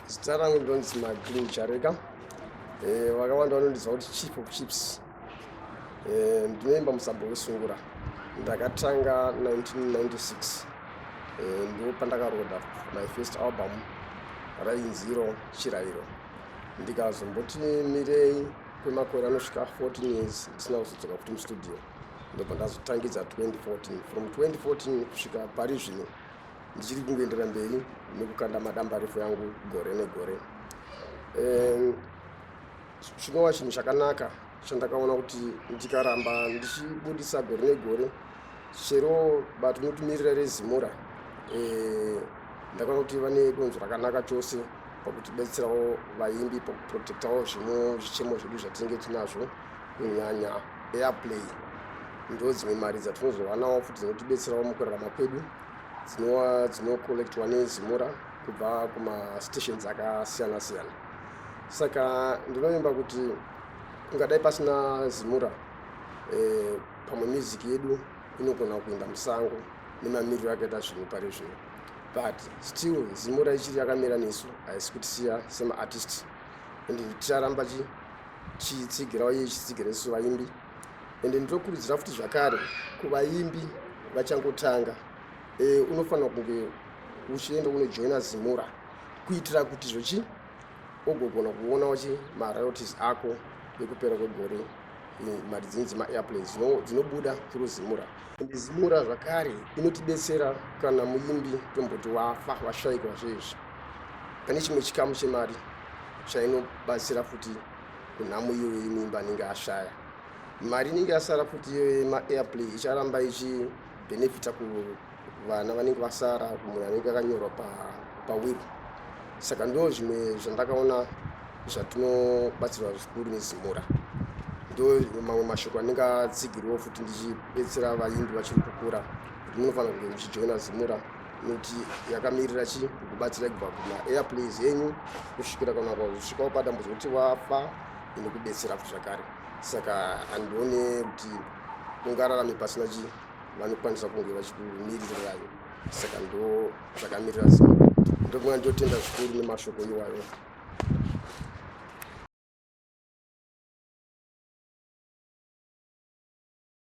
zita rangu ndonzi magreen chareka eh, vakawanda vanondiziva kuti chief of chips eh, ndinoimba musabho wesungura ndakatanga 1996 eh, ndo pandakaroda my first album rainziro chirayiro ndikazomboti mirei kwemakore anosvika 14 years ndisina kuzodzoka kuti mustudio ndobva ndazotangidza 2014 from 2014 kusvika pari zvino ndichiri kungoendera mberi nekukanda madambarefo yangu gore negore chinova chinhu chakanaka chandakaona kuti ndikaramba ndichibudisa gore negore chero bato rinotimirira rezimura eh, ndakaona kuti vane donzo rakanaka chose pakutibetserawo vaimbi pakuprotectawo zvimwe zvichemo zvedu zvatinenge tinazvo kunyanya airplay ndo dzimwe mari dzatinozowanawo futi dzinotibetserawo mukurarama kwedu dzinowa dzinocollectwa nezimura kubva kumastations akasiyana siyana saka ndinovimba kuti kungadai pasina zimura eh, pamwe music yedu inogona kuinda musango nemamiriro akaita zvinhu pari zvino but still zimura ichiri yakamira nesu haisi kutisiya semaartist and ticharamba chitsigira uye ichitsigira isu vaimbi and ndinokurudzira futi zvakare kuvaimbi vachangotanga e, unofanira kunge uchienda unojoina zimura kuitira kuti zvochi ugogona kuonawo chi maroyalties ako ekupera kwegore mari dzinyi dzemaairplanes dzinobuda through zimura ende zimura zvakare inotibetsera kana muimbi tomboti wafa washaikwa zvezvi pane chimwe chikamu chemari chainobatsira futi kunhamo iyoyo yemuimbi anenge ashaya mari inenge yasara futi iyoyo yemaairplay icharamba ichibhenefita ku vana vanenge vasara munhu anenge akanyorwa pawiri saka ndo zvimwe zvandakaona zvatinobatsirwa zvikuru nezimura ndo mamwe mashoko anenge atsigirwawo futi ndichibetsera vaimbi vachiri kukura kuti munofanira kunge muchijoina zimura nekuti yakamirira chi kubatsira kubva kumaairplays enyu kusvikira kana kusvikawo padambudzo kuti wafa inokubetsera futi zvakare saka handione kuti ungararame pasina chii vanokwanisa kunge vachikumirirai saka ndo zvakamirira zino ndokunga ndotenda zvikuru nemashoko iwayo